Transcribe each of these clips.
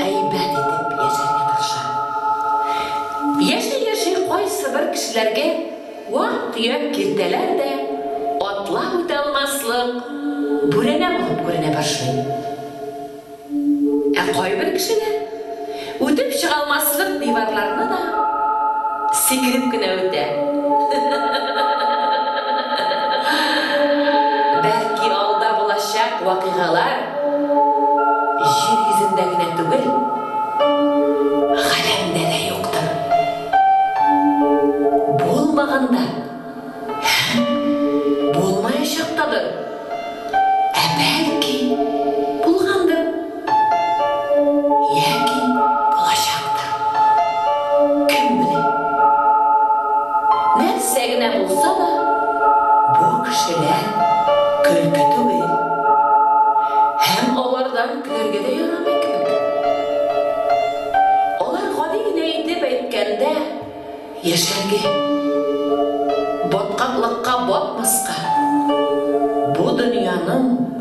әйбәт итеп яшәргә тырыша. Яши-яши кайсыбер кешеләргә вак-төяк киртәләр дә атлап үтә алмаслык бүрәнә булып күренә башлый. Ә кайбер кешеләр үтеп чыга алмаслык диварларны да сикереп кенә үтә. Бәлки алда булачак вакыйгалар Җир йөзендә генә түгел, галәмдә дә юктыр. Булмаган да һәм булмаячак тадыр. Ә бәлки, булгандыр. Яки булачактыр. Кем белә. Сә генә булса да, бу кешеләр көлке түгел. Һәм алардан көләргә дә ярамый кебек. Алар, гади генә итеп әйткәндә, яшәргә, баткаклыкка батмаска, бу дөньяның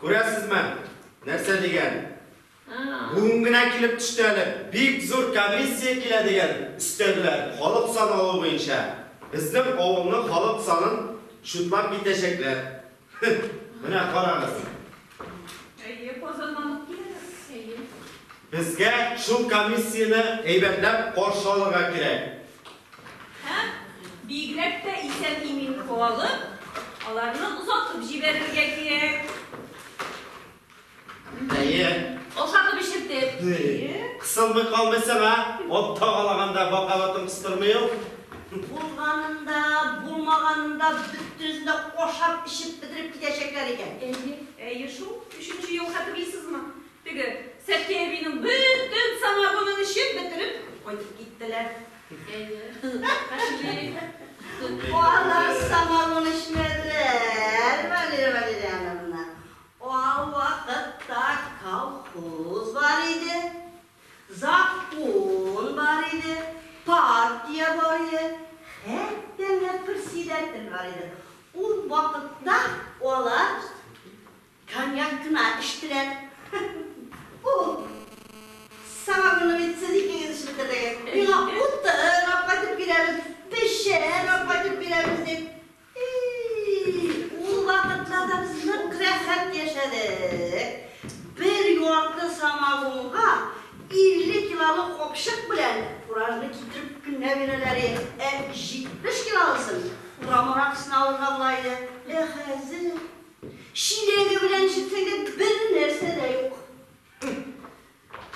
Күрәсезме, нәрсә дигән? Бүген генә килеп төште әле. Бик зур комиссия килә дигән, өстәделәр, халык саналу буенча. Безнең авылның халык санын чутлап китәчәкләр. Менә карагыз. Әйе, Казаннан ук киләләр. Әйе. Безгә шул комиссияне әйбәтләп каршы алырга кирәк. Һәм бигрәк тә исән-имин калып, аларны озатып җибәрергә кирәк. Әйе. Ашатып эчертеп. Кысылмый калмыйсың, а? Ат тагалаганда бакалатын кыстырмый ул. Булганын да, булмаганын да бөтенесен дә ашап-эчеп бетереп китәчәкләр икән. Әйе. Әйе шул. Өченче ел хәтерлисезме? Теге Сәки әбинең бөтен самогонын эчеп бетереп кайтып киттеләр. Әйе, пошли. Алар самогон эчмәделәр, Валерия Валерьяновна. Ал вакытта колхоз бар иде, закон бар иде, партия бар иде, хәтта менә председатель бар иде. Ул вакытта алар Коньяк кына эчтеләр. Ху-ху-ху. Самогонны бит сез икегез эчеп бетердегез. Миңа утын апкайтып бирәбез, печән апкайтып бирәбез дип. И-и-и, ул вакытларда без нык рәхәт яшәдек. Бер ярты самогонга илле килолык капчык белән фуражны китереп кенә бирәләр иде. Ә җитмеш килолысын урам аракысына алырга була иде. Ә хәзер. Чиләге белән җитсәгә бер нәрсә дә юк.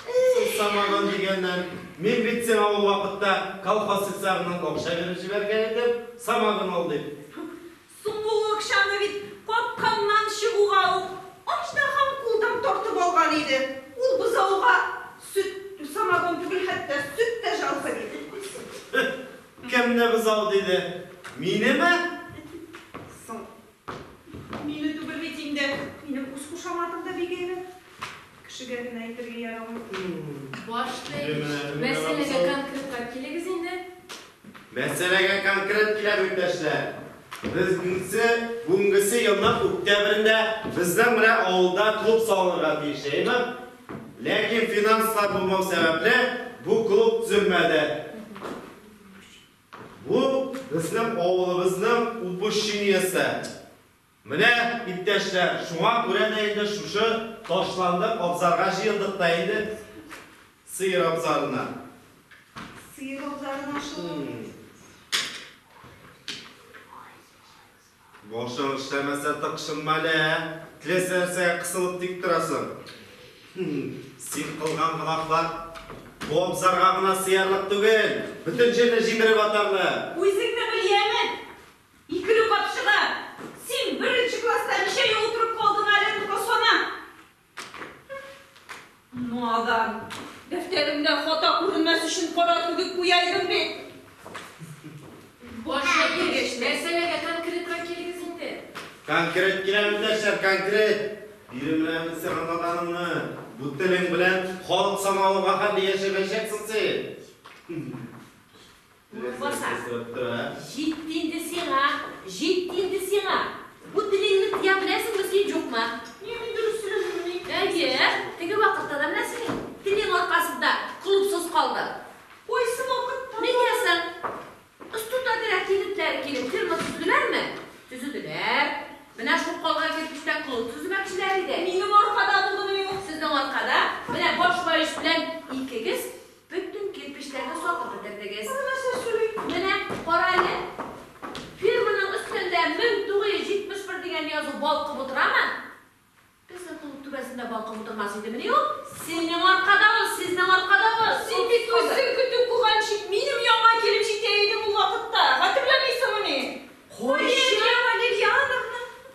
Сусамаган дигәннән, мин бит сиңа ул вакытта колхоз сельсагыннан акча биреп җибәргән идем, самагын ал дип. Соң бу акчаны бит капканнан чыгуга ук Аҗдаһам кулдан тартып алган иде. Ул бозауга сөт, самагон түгел, хәтта сөт тә җалга бирмәгәнсең. Кемне бозау диде? Минеме? Соң. Мине түгел бит инде. Минем үз кушаматым да бик әйбәт. Кешегә генә әйтергә ярамый. Башта ич, мәсьәләгә конкретлап килегез инде. Мәсьәләгә конкрет киләб, иптәшләр. Безнсе бүгенгесе елның үктәбрендә безнең менә авылда клуб салынырга тиеш, әйеме? Ләкин финанслар булмау сәбәпле, бу клуб төзелмәде. Бу безнең авылыбызның упущениесе. Менә, иптәшләр, шуңа күрә дә инде шушы ташланды абзарга җыелдык та инде, сыер абзарына. Сыер абзарына шул. Башың эшләмәсә, тыкшынма әле, ә? Теләсә нәрсәгә кысылып тик торасың. Син кылган гөнаһлар бу абзарга гына сыярлык түгел, бөтен җирне җимереп атарлык. Үзеңне беләмен. Икеле капчыгы. Син беренче класста ничә ел утырып калдың әле, ну-ка сана. Надан. Дәфтәремдә хата күренмәс өчен кара түгеп куя идем бит. Баш әйгәч, нәрсәләргә конкретрак килегез инде? Конкрет киләм, иптәшләр, конкрет. Бирем белән сиңа наданымны. Бу телең белән халык самавырга хәтле яшәмәячәксең син. Урынбасар. Җитте инде сиңа, җитте инде сиңа! Бу телеңне тыя беләсеңме син, җукмак? Нигә, мин дөрес сөйләдеммени? Әйе, теге вакытта да менә синең телең аркасында колупсыз калды. Кайсы вакытта? Нигә соң? Остуда кирәк егетләр килеп фирма төзеделәрме? Төзеделәр. Менә шул калган кирпечтән колуп төземәкчеләр иде. Минем аркада булдымыни ул? Сезнең аркада, менә баш врач белән икегез Бөтен кирпечләрне сатып бетердегез. Аны нәрсә сөйли? Менә кара әле. Фирманың өстендә 1971 дигән язу балкып утырамы? Безнең клуб түбәсендә балкып утырмас идемени ул? Синең аркада ул, сезнең аркада ул. Син бит үзең көтү куганчы, минем янга килеп җитә идең ул вакытта. Хәтерләмисеңмени? Кайчан? Валерьяновна!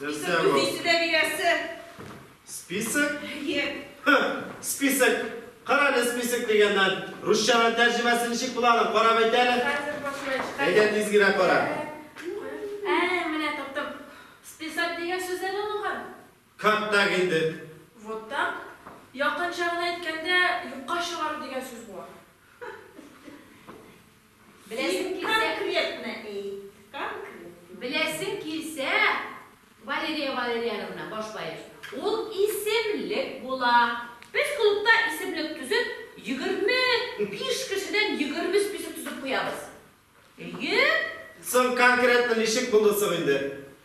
Нәрсә бу? Нәрсә дә бирәсе. Список? Әйе. Список. Кара әле список дигәннән. Русчага тәрҗемәсе ничек була аны? Карап әйт әле. Әйдә тизгерәк кара. Ә, менә таптым. Список дигән сүздән алынган. Как так инде? Вот так. Якынча гына әйткәндә, юкка чыгару дигән сүз була. Беләсең килсә. Конкретно әйт, конкретно. Беләсең килсә, Валерия Валерьяновна, башлаеш, ул исемлек була. Без клубта исемлек төзеп, егерме биш кешедән егерме список төзеп куябыз. Әйе. Соң конкретно ничек булды соң инде?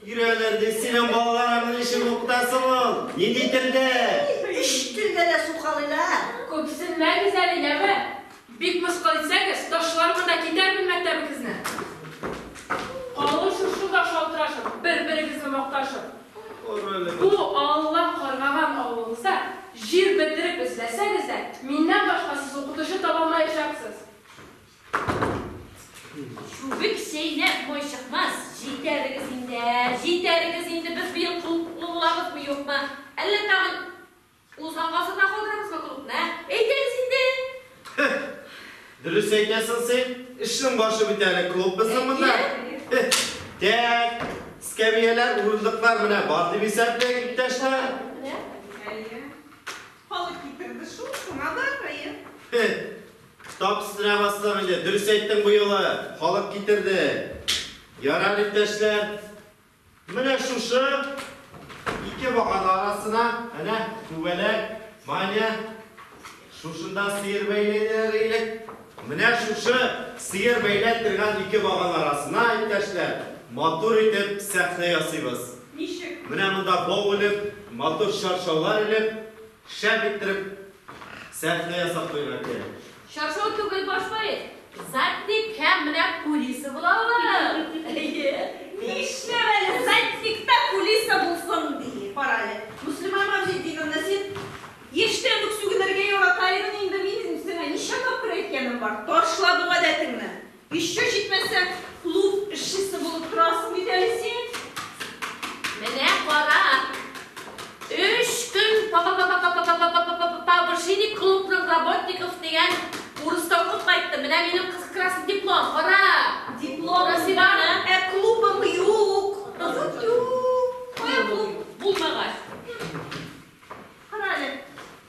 Йөрәләр ди, синең балаларың ничек укыта соң ул? Нинди телдә? Өч телдә дә сукалыйлар. Күпсенмәгез әле, яме! Бик мыскыл итсәгез, ташлармын да китәрмен мәктәбегезне! Калын шушы да шалтырашып, бер-берегезне макташып. Бу Алла каргаган авылыгызда җир бетереп эзләсәгез дә, миннән башка сез укытучы табалмаячаксыз. Чубик чәйнәп май чыкмас. Җитәрегез инде, җитәрегез инде, без быел клубны булабызмы, юкмы? Әллә тагын узган гасырда калдырамызмы клубны, ә? Әйтегез инде! Дөрес әйтәсең син, эшнең башы бит әле клуб безнең монда. Тәк, эскәмияләр, урындыклар менә бар дип исәпләйк, иптәшләр. Әйе. Халык китерде шул, шуңа да, әйе. Кытап стерә бассак иде. Дөрес әйттең, бу юлы халык китерде. Ярар, иптәшләр. Менә шушы ике багана арасына, әнә түбәләк, баня. Шушында сыер бәйләйләр элек. Менә шушы сыер бәйләп торган ике багана арасына, иптәшләр, матур итеп сәхнә ясыйбыз. Ничек? Менә монда бау элеп, матур чаршаулар элеп, Шәп иттереп сәхнә ясап куйган кирәк. Чаршау түгел баш поэт. Затник һәм менә кулиса була ул. Әйе. Нишләп әле затник та кулиса булсын ди? Кара әле, Мөслимә Маҗетдиновна, син яшьтән үк сүгенергә яратаидың инде, минем сиңа ничә тапкыр әйткәнем бар, ташла бу гадәтеңне. Еще җитмәсә, клуб эшчесе булып торасың бит әле син. Менә кара, өч көн па-па-па-бышиник клубның работников дигән курста укып кайттым. Менә минем кызыл красный диплом, кара! Диплом, Насыйбаны. Ә клубың юк. Юк, юк. Кая клуб булмагач? Кара әле.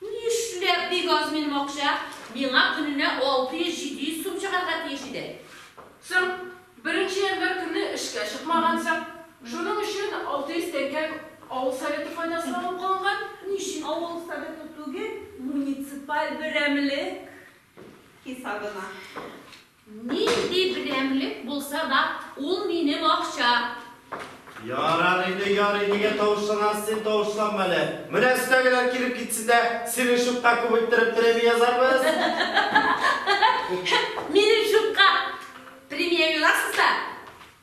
Нишләп бик аз минем акча? Миңа көненә 600-700 сум чыгарга тиеш иде. Соң, беренче январь көнне эшкә чыкмагансың. Шуның өчен 600 тәңкәң авыл советы файдасына алып калынган. Ни өчен авыл советы түгел, муниципаль берәмлек хисабына? Нинди берәмлек булса да, ул минем акча. Ярар инде, ярый, нигә тавышланасыз син, тавышланма әле. Менә өстәгеләр килеп китсен дә, синең чукка күп иттереп премия язарбыз. Минем чукка премия юрасыз да.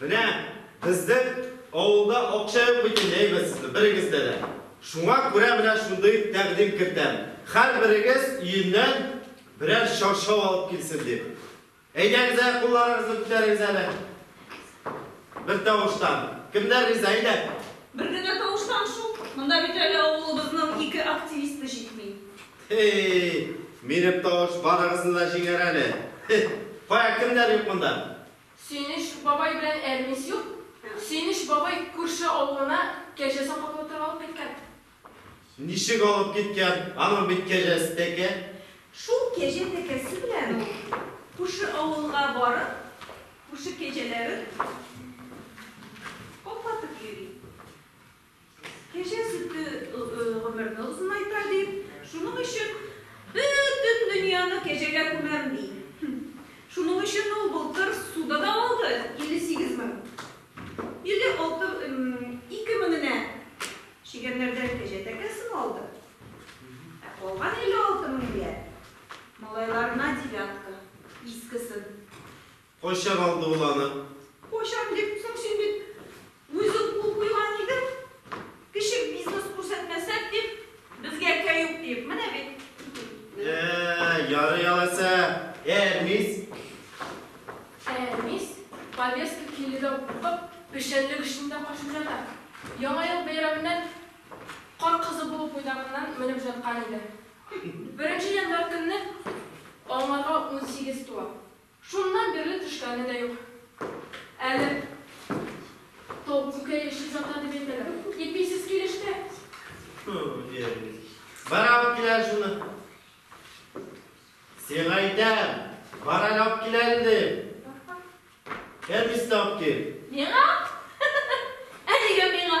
Менә безнең авылда акча юк бит инде, әйбәтсезме, берегездә дә. Шуңа күрә менә шундый тәкъдим кертәм, һәрберегез өеннән берәр чаршау алып килсен дип. Әйдәгез әле, кулларыгызны күтәрегез әле. Бер тавыштан. Кемнәр риза, әйдә. Бер генә тавыштан шул. Монда бит әле авылыбызның ике активисты җитми. Һей, минем тавыш барыгызны да җиңәр әле. Һе, кая, кемнәр юк монда? Сөенеч бабай белән Әрнис юк. Сөенеч бабай күрше авылына кәҗәсен каплатырга алып киткән. Ничек алып киткән? Аның бит кәҗәсе тәкә. Шул кәҗә тәкәсе белән ул күрше авылга барып, күрше кәҗәләрен каплатып йөри. Кәҗә сөте гомерне озынайта, ди. Шуның өчен бөтен дөньяны кәҗәгә күмәм, ди. Шуның өчен ул былтыр суда да алды 58 мең. 56 ике меңенә чегәннәрдән кәҗә тәкәсен алды. Ә калган 56 меңгә малайларына девятка, искесен, Кайчак алды ул аны? Кайчак дип, соң син бит үзең кул куйган идең, кеше бизнес күрсәтмәсәк дип, безгә кәюк диеп, менә бит. Ә-ә, ярый алайса, Әрмис? Әрмис, повестка килүдән куркып, печәнлек эчендә качып ята. Яңа ел бәйрәменнән кар кызы булып уйнагыннан менеп җаткан иде. Беренче январь көнне аңарга унсигез туа. Шуннан бирле төшкәне дә юк әле. Тау күкәе эчеп ята дип әйтәләр. Иписез килеште. Хм, диярлек. Бар алып кил әле шуны. Сиңа әйтәм, бар әле алып кил әле дим. Кәбестә алып кил. Миңа? Ә нигә миңа?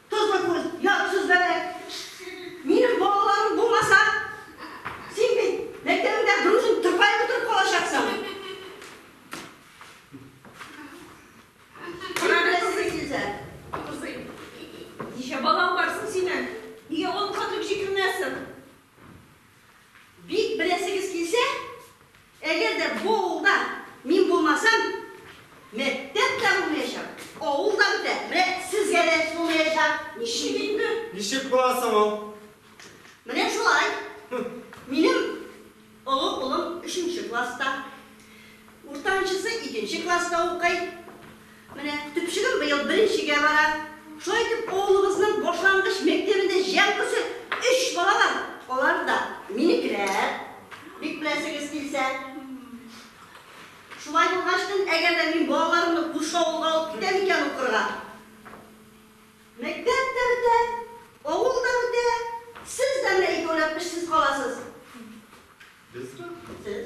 Тозлы күл, ят сүзләре. Минем балаларым булмаса, син бит мәктәбеңдә грузин тырпаеп утырып калачаксың. Кара беләсезме килсә? Абзый, ничә балаң бар соң синең? Нигә он катлык җикеренәсең? Бик беләсегез килсә, Әгәр дә бу авылда мин булмасам, мәктәп тә булмаячак, авыл да бетә, менә сезгә дә булмаячак. Ничек инде? Ничек була соң ул? Менә шулай. Минем олы улым өченче класста, уртанчысы икенче класста укый. Менә төпчегем быел беренчегә бара. Шулай итеп, авылыбызның башлангыч мәктәбендә җәмгысе өч бала бар. Алар да минекеләр, бик беләсегез килсә. Шулай булгач тын, әгәр дә мин балаларымны күрше авылга алып китәм икән укырга, мәктәп тә бетә, авыл да бетә, сез дә менә икәүләп эшсез каласыз. Без? Сез.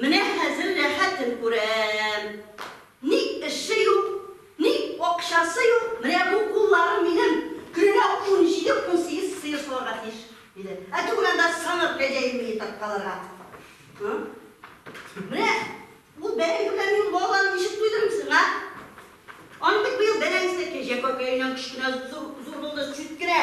Менә хәзер рәхәтен күрәм. Ни эше юк, ни акчасы юк, менә бу кулларым минем көненә унҗиде-унсигез сыер саварга тиеш, диде. Ә түгел анда саңгыр кәҗә имени тарткаларга. Һы? Менә ул бәрәңге белән мин балаларны ничек туйдырыйм соң, а? Аның бит быел бәрәңгесе кәҗә кәкәеннән кечкенә зур булды, чүткерә.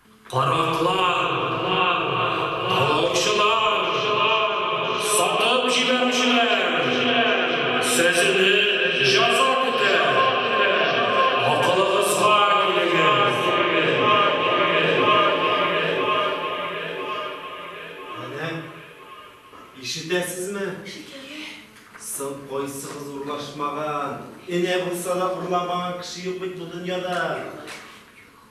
Караклар, талаучылар, сатып җибәрүчеләр, сәзенеп җаза көтә. Акылыгызга килегез. Әнә, ишетәсезме? Шикелле. Соң кайсыгыз урлашмаган? Энә булса да урламаган кеше юк бит бу дөньяда. Юк.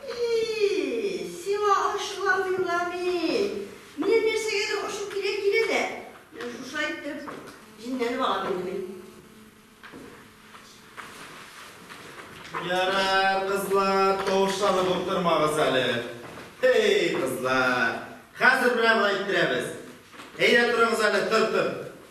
И-и-и, сиңа ачуланыйм да мин. Минем нәрсәгәдер ачу килә килә дә, менә шушы әйтеп, җенләнеп алам инде мин. Ярар, кызлар, тавышланып утырмагыз әле. Һей, кызлар, хәзер берәр генә әйттерәбез. Әйдә, торыгыз әле, тор, тор.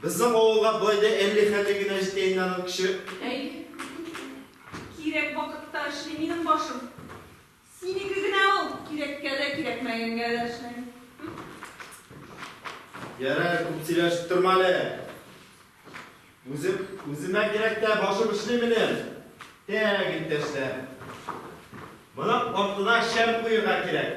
Безнең авылга бай да әлли хәле генә җитә инде аның көче. Әй, кирәк вакытта эшли минем башым. Синеке генә ул, кирәккә дә, кирәкмәгәнгә дә эшләми. Ярар, күп сөйләшеп торма әле. Үзем, үземә кирәк тә башым эшли минем. Тәк, иптәшләр. Моның артына шәм куерга кирәк.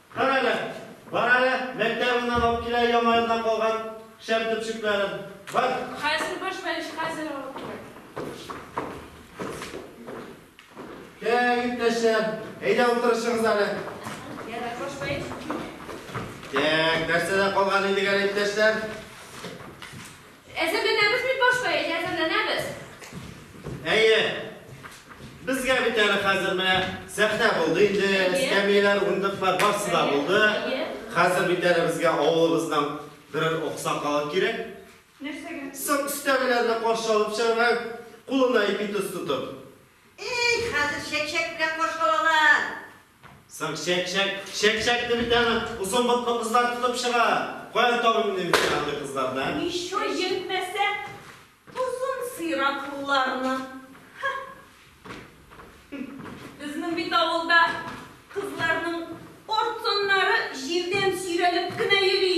Кара әле, бар әле, мәктәбеңнән алып килә Яңа елдан калган шәм төпчекләрен. Бар! Хәзер баш белеш, хәзер алып киләм. Кә, иптәшләр, әйдә утырышыгыз әле. Ярар, баш белеш. Тәк, нәрсәдә калган идек әле, иптәшләр? Әзерләнәбез бит башта, әйе, әзерләнәбез. Әйе. Безгә бит әле хәзер менә сәхнә булды инде, эскәмияләр, урындыклар барсы да булды. Хәзер бит әле безгә авылыбыздан берәр аксакал кирәк. Нәрсәгә? Сак өстәмәләрне каршы алып чыгарга, кулына ипи тоз тотып. Эй, хәзер чәк-чәк белән каршы алалар. Соң чәк-чәк, чәк-чәк дип бит аны озын ботлы кызлар тотып чыга. Каян табыйм инде мин сиңа андый кызларны, ә? Ещё җитмәсә, озын сыйраклыларны. Ха! Безнең бит авылда кызларның артыннары җирдән сөйрәлеп кенә йөри.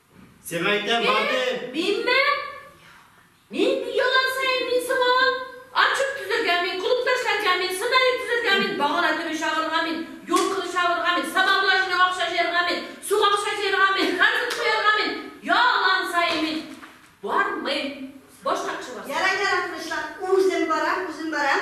Сиңа әйтәм, бар дип! Минме? Мин елан саен мин сыңалам. Отчет төзергә мин, клубта эшләргә мин, сценарий төзергә мин, багана төбе чагырырга мин, юл кылы чагырырга мин, сабанлы аҗыны акча җыярга мин, суга акча җыярга мин, карбид куярга мин. Ялан саен мин бармыйм. Башка кеше барсын. Ярар, ярар, тынычлан. Үзем барам, үзем барам.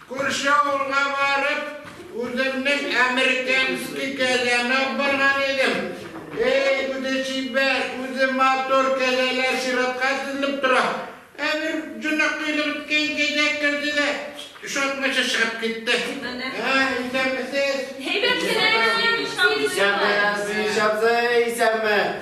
Күрше авылга барып, үземнең американский кәзәне алып барган идем. Эй, үзе чибәр, үзе матур кәзәләр чиратка тезелеп тора. Ә бер җонак кыйдырткан кәзә керде дә, ошатмыйча чыгып китте. Ә, исәнмесез! Әйбәт кенә әйләнәбез, Сабый абый. Исәнме, Сабый абзый, исәнме?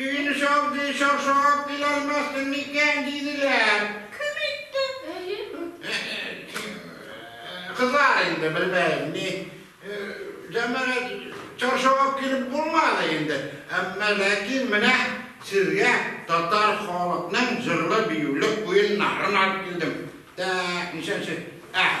Төн шактый чаршаган кил алмассың микән, диделәр. Кем әйтте? Әйе. Кызлар инде, белмәем ни. Җәмәгать, чаршагап килеп булмады инде. Әмма ләкин менә сезгә татар халыкның җырлы-биюле уеннарын алып килдем. Тәк, ничәнче? Әһ,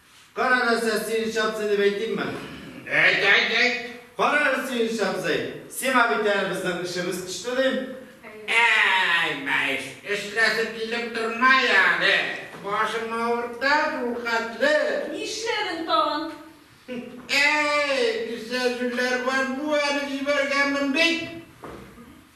Кара нәрсә, Сириз Чабзый дип әйтимме? Әйт, әйт, әйт! Кара әле, Сириз Чабзый, сиңа бит әле безнең эшебез төште, дим. Әй, мәеш, эшләсе килеп тормый әле. Башым авырта шул хәтле. Нишләдең тагын? Әй, кесә җүләр бар бу әле, җибәргәнмен бит.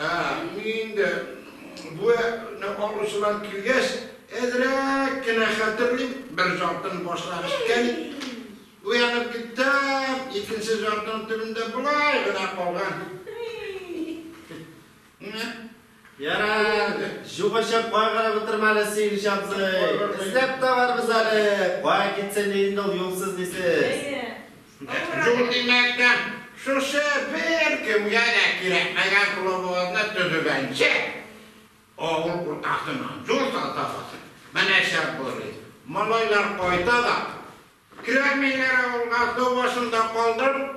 Ә мин инде бу не алучылар килгәч, әзрәк кенә хәтерлим, бер җартыны башлап эчкән идем, уянып киттем, икенче җартының төбендә болай гына калган. Ярар, җугышып кайгырып утырма әле, Сөенеч абзый, эзләп табарбыз әле, кая китсен ди инде ул юлсыз дисез. Юл димәктән, шушы беркемгә дә кирәкмәгән клубыгызны төзегәнче, авыл уртасына юл салсагыз, менә шәп булыр иде. Малайлар кайта да кермиләр авылга, су башында калдырып.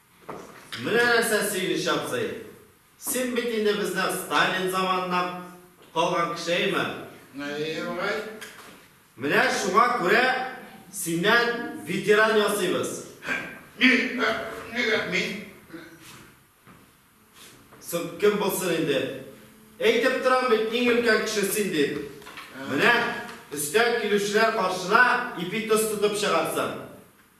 Менә нәрсә сөенеч абзый! Син бит инде бездән Сталин заманыннан калган кеше, әйеме? Әйе, агай. Менә шуңа күрә синнән ветеран ясыйбыз. Нигә мин? Соң кем булсын инде? Әйтеп торам бит, иң өлкән кеше син дип. Менә өстән килүчеләр каршына ипи-тоз тотып чыгарсың.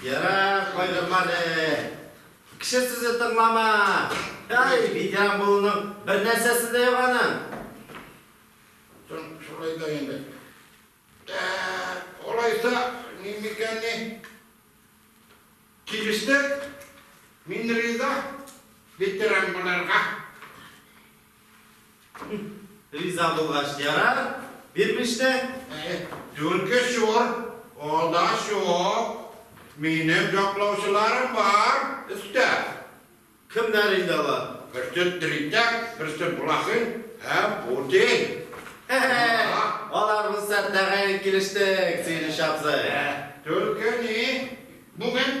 Ярар, кайдырма әле. Кеше сүзе тыңлама. Әй, ветеран булуның бер нәрсәсе дә юк аның. Шулай да инде. Алайса, ни микән ни? Килештек. Мин риза ветеран буларга. Риза булгач ярар, бирмеш тә. Түлке чур, алда чук. Минем яклаучыларым бар, өстә. Кемнәр инде алар? Берсе теритәк, берсе блохин һәм путин. Алар булса тәгаен килештек, Сөенеч абзый. Түлке ни, бүген?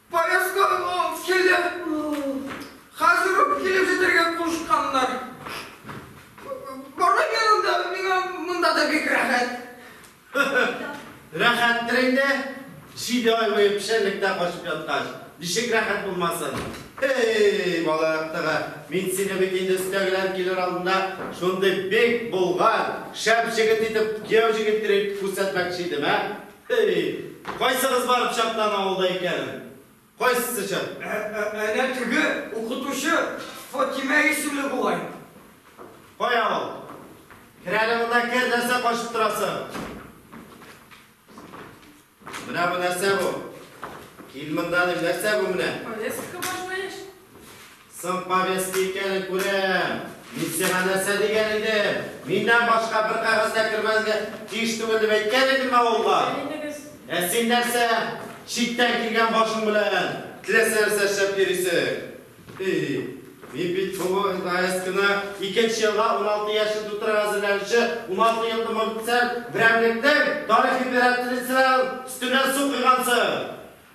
Поезддан ул килеп, хәзер үк килеп җитәргә кушканнар. Барган янында миңа монда да бик рәхәт. Рәхәттер инде, җиде ай буе печәнлектә качып яткач, ничек рәхәт булмасын. Һей, бала яктыгы, мин сине бит инде өстәгеләр килер алдында шундый бик болгар, шәп җегет итеп кияү җигеттер итеп күрсәтмәкче идем, ә? Һей, кайсыгыз барып чактан авылда икән? Кайсысы чак? Әнә теге укытучы Фатимә исемле бугай. Кая ул? Кер әле монда, кер, нәрсә качып торасың? Менә бу нәрсә бу? Кил монда, дим, нәрсә бу менә? Резко башлаеш. Соң повестка икәнен күрәм. Мин сиңа нәрсә дигән идем? Миннән башка бер кәгазь дә кермәнгә тиеш түгел дип әйткән идемме авылга? Ә син нәрсә, читтән килгән башың белән теләсә нәрсә эшләп йөрисең? И, мин бит соңгы гаять кына икенче елга уналты яшен тутырырга әзерләнүче уналты еллы мобицәр берәмлектең тарих императрицаның өстенә су койгансың!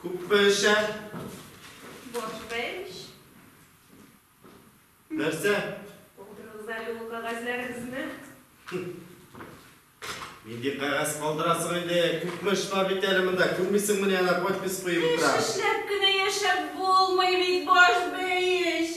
Күп пешә. Борщ пеш. Нәрсә? Калдырыгыз әле ул кәгазьләрегезне. Нинди кәгазь калдырасың инде? Күпме эш бар бит әле монда. Күрмисеңме ни ана подпись куеп утыра. Эш эшләп кенә яшәп булмый бит, борщ пеш.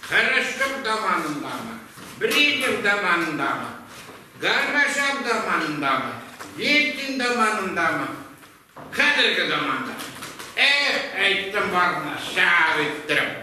Кырычтык заманындагы, Брежнев заманындагы, Горбачев заманындагы, Ельцин заманындагы, хәзерге заманда. Эх, әйттем барына, шәп иттереп.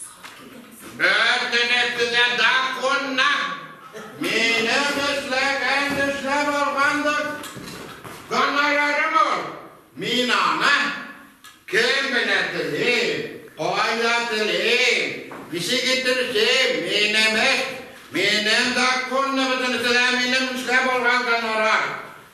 Бөтенесе дә законна! Минем эшләгән эшләп алгандыр. Гонорарым ул. Мин аны кем генә телим, кайда телим, ничек итеп эшлим, минем эш, минем законна бөтенесе дә минем эшләп алган гонорар.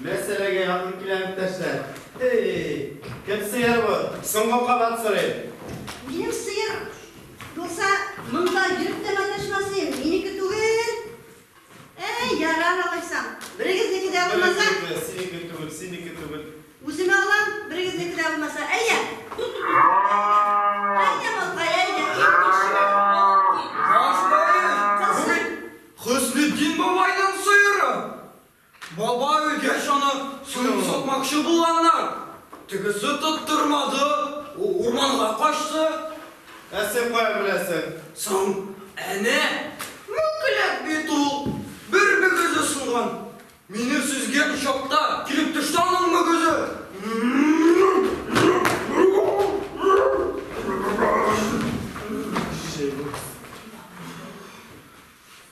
Мәсьәләгә якын киләм, иптәшләр. Һе-е-е! Кем сыер бу? Соңгы кабат сорыйм. Минем сыер булса, монда йөреп тә маташмас идем, минеке түгел. Әй, ярар, алайсам. Берегезнеке дә булмаса. Берегезнеке, синеке түгел, синеке түгел. Үземә алам, берегезнеке дә булмаса. Әйдә! Әйдә, малкай, әйдә, иң кече малкай. Каз бай, бу бит Хөснетдин бабайның сыеры! Баба өйгә чанып суын сукмакчы булганнар, тегесе тоттырмады, ул урманга качты. Ә син каян беләсең? Соң, әнә, мүкләк бит ул, бер мөгезе сынган. Мине сөзгән чакта килеп төште аның мөгезе. Шәй бу.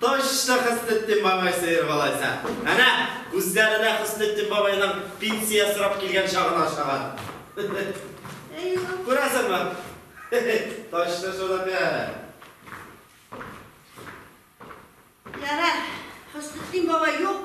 Точно Хөснетдин бабай сыер алайса. Әнә, күзләренә Хөснетдин бабайның пенсия сорап килгән чагын ашаган. Күрәсеңме? Точно шул да бәлә. Ярар, Хөснетдин бабай юк,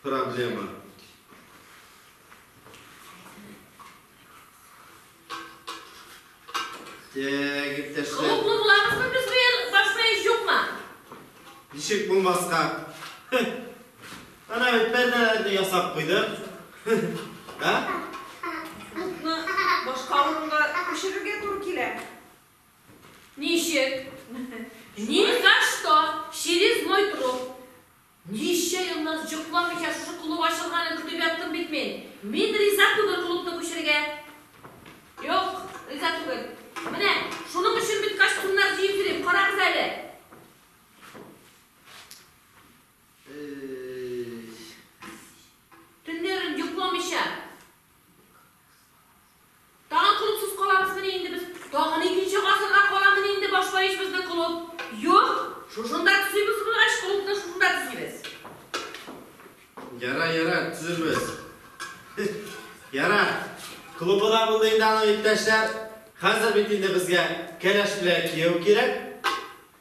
Проблема. Тәк, иптәшләр. Клубны буламызмы без бу ел? Башка еш юкмы? Ничек булмаска? Ана бит пәрдәләрне ясап куйдык. Ә? Клубны башка урынга күчерергә туры килә. Ничек? Ни за что? Через мой труп. Ничә еллар йокламыйча шушы клуб ачылганын көтеп яттым бит мин. Мин риза түгел клубны күчерергә. Юк, риза түгел. Менә шуның өчен бит костюмнар җыеп йөрим, карагыз әле. Төннәрен йокламыйча Тагын клубсыз калабызмыни инде без? Тагын икенче гасырга каламыни инде башлаеш безнең клуб? Юк, шушында төзибез булгач, клубны шушында төзибез. Ярар, ярар, төзербез. Ярар, клубы да булды инде аның иптәшләр. Хәзер бит инде безгә кәләш белән кияү кирәк.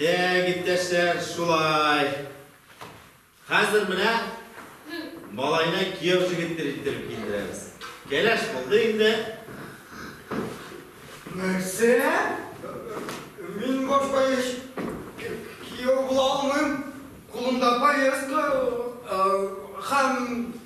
Тәк, иптәшләр, шулай. Хәзер менә малайны кияү жигеттер иттереп килдерәбез. Кәләш булды инде. Нәрсә? Мин башка еш кияү була алмыйм. Кулымда повестка һәм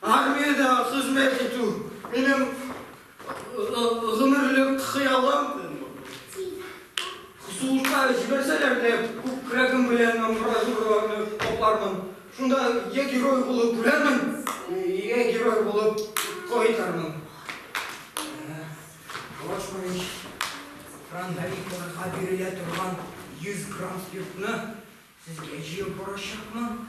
Армиядә хезмәт итү, минем гомерлек хыялым. Сугышка җибәрсәләр дә, күкрәгем белән амбразураларны каплармын. Шунда я герой булып үләрмен, я герой булып кайтармын. Лошманыч, фронтовикларга бирелә торган 100 грамм спиртны сезгә җыеп барачакмын.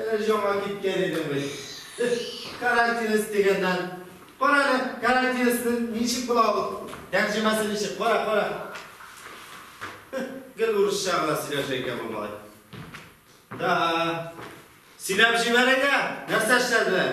Әле яңа киткән идем бит. Карантинис дигәннән. Кара әле, карантинисның ничек була ул? Тәрҗемәсе ничек? Кара, кара. Гел урысча гына сөйләшә икән бу малай. Да. Сөйләп җибәрәйдә, нәрсә эшләделәр?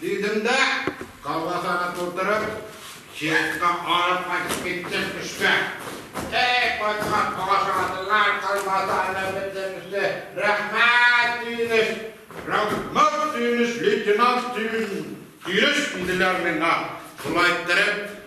Дидем дә, колбасаны тутырып, җыентка алып кайтып киттем эшкә. Әй, кайткач ашадылар колбаса әллә бөтенесе. Рәхмәт, Сөенеч! Рәхмәт, Сөенеч, лейтенант Сөенеч! диделәр миңа, шулай иттереп.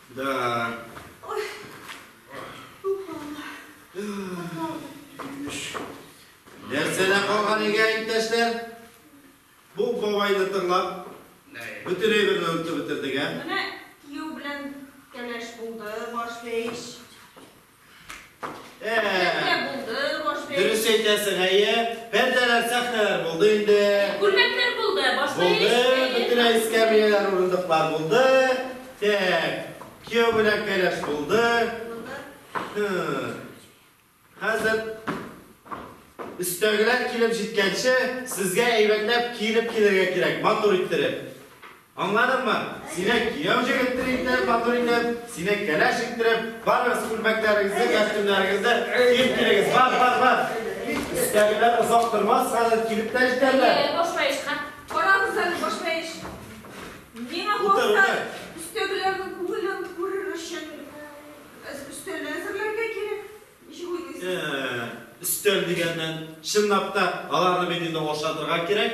Да. Ой. Нәрсәлә калган игә иптәшләр? Бу бабайды тыңлап, бөтен әйберне онытып бетердек, ә? Менә кияү белән кәләш булды, башлыч. Дөрес әйтәсең, әйе. Пәрдәләр, сәхнәләр булды инде. Күлмәкләр булды, башта Булды, бөтенләй эскәмияләр, урындыклар булды. Так, кияү белән кәләш булды. Хәзер өстәгеләр килеп җиткәнче, сезгә әйбәтләп киенеп килергә кирәк, матур иттереп. Аңладыңмы? Сине кияү җегеттер итеп, матур итеп, сине кәләш иттереп, барыгыз күлмәкләрегезне, кәстүмнәрегезне киеп килегез. Бар, бар, бар. Өстәгеләр озак тормас, хәзер килеп тә җитәрләр. Әйе, башлаеш, ха? Карагыз әле, башлаеш. Миңа калса, өстәгеләрнең күңелен күрер өчен өстәлне әзерләргә кирәк. Ничек уйлыйсыз? Өстәл дигәннән, чынлап та, аларны бит инде ашатырга кирәк.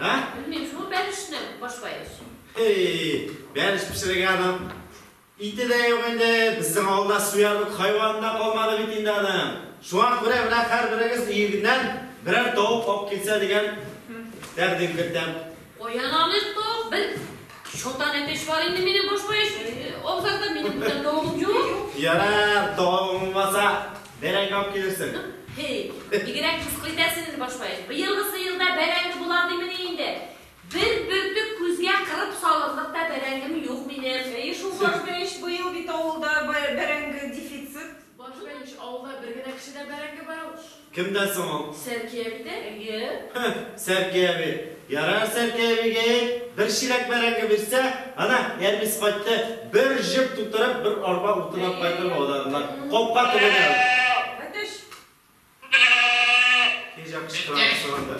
Ә? Белмим, шул бәришне башлайбыз. Хей, бәриш пешерергә аның ите дә юк инде, безнең авылда суярлык хайваны да калмады бит инде аның. Шуңа күрә менә һәрберегез өегеннән берәр тавык алып килсә дигән тәкъдим кертәм. Каян алыйк ток без? Чотан әтеш бар инде минем баш баеш. Абзарда минем бүтән тавыгым юк. Ярар, тавыгың булмаса, бәрәңге алып килерсең. Хей, бигрәк мыскыл итәсең инде, баш баеш. Быелгы сыерда бәрәңге була димени инде. Бер бөртек күзгә кырып салырлык та бәрәңгем юк минем. Әйе шул, баш баеш, быел бит авылда бәрәңге дефицит. Баш баеш, авылда бер генә кешедә бәрәңге бар ул. Кемдә соң ул? Сәрки әбидә. Әйе. Һе, Сәрки әби. Ярар, Сәрки әбигә әйт, бер чиләк бәрәңге бирсә, ана, Әлбис кайтты, бер җеп тутырып, бер арба утын алып кайтыр бу аларыннан. Капка төбенә үк. Әтәч! Кәҗә кычкыра башлаганда.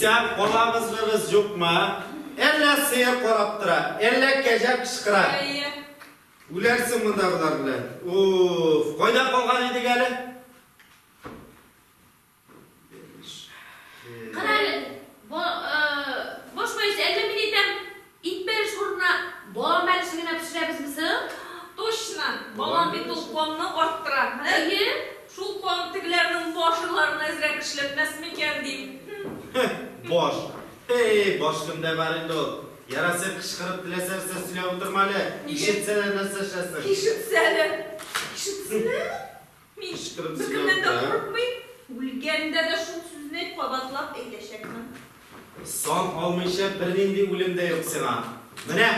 Исән калагызлыгыз юкмы? Әллә сыер карап тора, әллә кәҗә кычкыра. Үләрсең монда болар белән. Уф, кайда калган идек әле? Иң беренче урынны балан бәлеше генә пешерәбезме соң? Точно! Балан бит ул канны арттыра. Әйе, шул кан тегеләрнең башырларына әзрәк эшләтмәс микән, дим. Һе, баш! Һе-ей, баш кемдә бар инде ул? Яраса, кычкырып теләсә нәрсә сөйләп утырма әле, ишетсәләр нәрсә эшләсең. Ишетсәләр! Ишетсәләр! Мин беркемнән дә курыкмыйм, үлгәндә дә шул сүзне кабатлап әйтәчәкмен. Сан алмыйча бернинди үлем дә юк сиңа. Менә,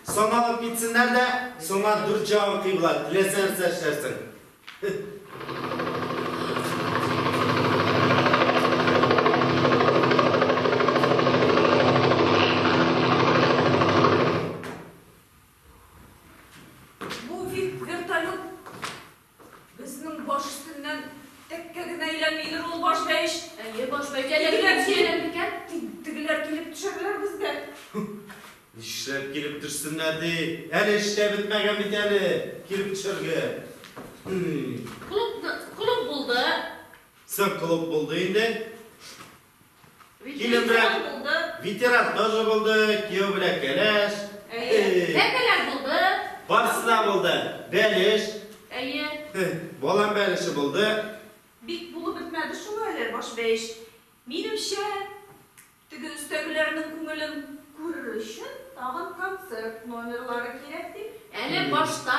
саналып китсеннәр дә, сиңа дүрт җавап кыйбла, теләсә нәрсә эшләрсең. Безнең баш өстеннән тәккә генә әйләнмидер ул баш бәйш. Әйе, баш бәйш. Тегеләр килеп икән. Тегеләр килеп төшәрләр безгә. Нишләп килеп төшсеннәр ди? Әле эш тә бетмәгән бит әле, килеп төшәргә. Клуб булды. Соң клуб булды инде. Килен белән ветеран тоже булды, кияү белән кәләш. Тәкәләр булды. Барсы да булды. Бәлеш. Әйе. Балам бәлеше булды. Бик булып бетмәде шул әле баш бәеш. Минемчә, теге өстәгеләрнең күңелен күрер өчен тагын концерт номерлары кирәк дип. Әле башта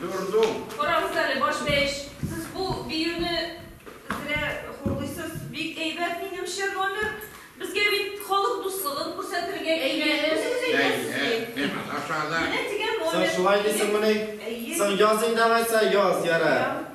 Дурдум! Карагыз әле, баш бәеш, сез бу биюне зря хурлыйсыз. Бик әйбәт, минемчә, номер. Безгә бит халык дуслыгын күрсәтергә килгән. Әйе, әйе. Соң шулай дисеңмени? Соң яз инде алайса, яз, ярар.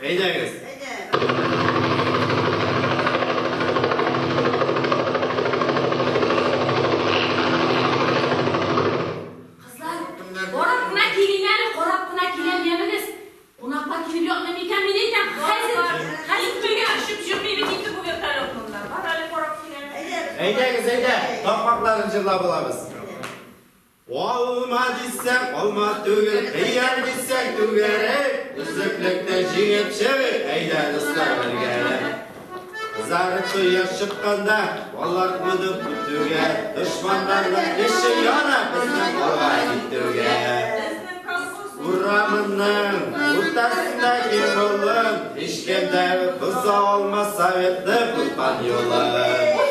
Әйдәгез. Әйдәгез, әйдә, тапмакларын жырлап алабыз. Алма дисәң, алма түгел, хыяр дисәң, түгәрәк. Өзеклектә җиңеп чыгыйк, әйдә, дуслар, бергәләп. Кызарып кояш чыкканда, алар кунып көтүгә. Дошманнарның эче яна, безнең алга китүгә. Урамның уртасында киң болын, һичкем дә боза алмас Советның булган юлын.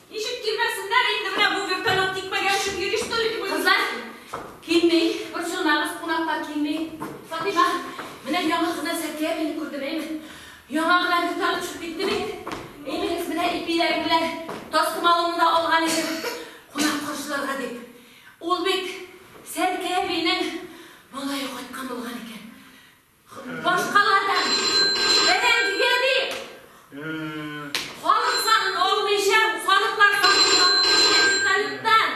Ничек килмәсеннәр инде, менә бу вертолет тикмәгә очып йөри что ли? Кызлар килми, борчылмагыз, кунаклар килми. Фатыйма, менә яңа гына Зәкия әбине күрдем, әйме? Яңа гына вертолет очып китте бит. Әймегез, менә ипиләрем белән тастымалымны да алган идем, кунак каршыларга дип. Ул бит Зәкия әбинең малае кайткан булган икән. Башкалардан бәрәңгегә дип, халык санын алмыйча, халыклар санын алып килгән вертолеттан.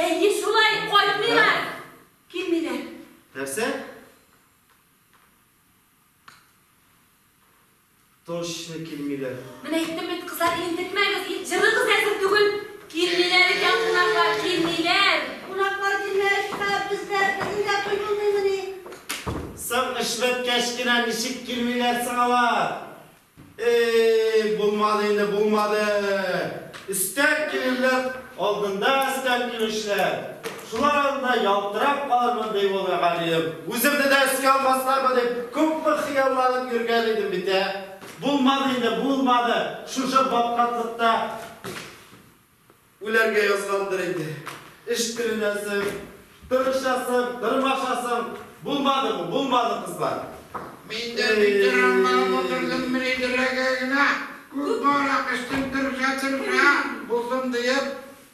Әйе, шулай, кайтмыйлар, килмиләр. Нәрсә? Точно килмиләр. Менә әйттем бит, кызлар, интекмәгез, ит җырыгыз әзер түгел. Килмиләр икән кунаклар, килмиләр. Кунаклар килмәешкә, бездә, безнең дә туй булмыймыни? Соң эшбеткәч кенә ничек килмиләр соң алар? Эй, булмады инде, булмады. Өстән килүләр, алдында өстән килүчеләр. Шулар алдында ялтырап калырмын, ди ул мөгаллим. Үземне дә өскә алмаслармы дип, күпме хыялланып йөргән идем бит, ә? Булмады инде, булмады. Шушы баткаклыкта үләргә язгандыр инде. Эш тереләсең, тырышасың, тырмашасың. Булмады бу, булмады, кызлар. Мин дә битәр аңланып утырдым, мридерәгә генә күпме аракы эчтем, тырыша-тырыша булдым, диеп.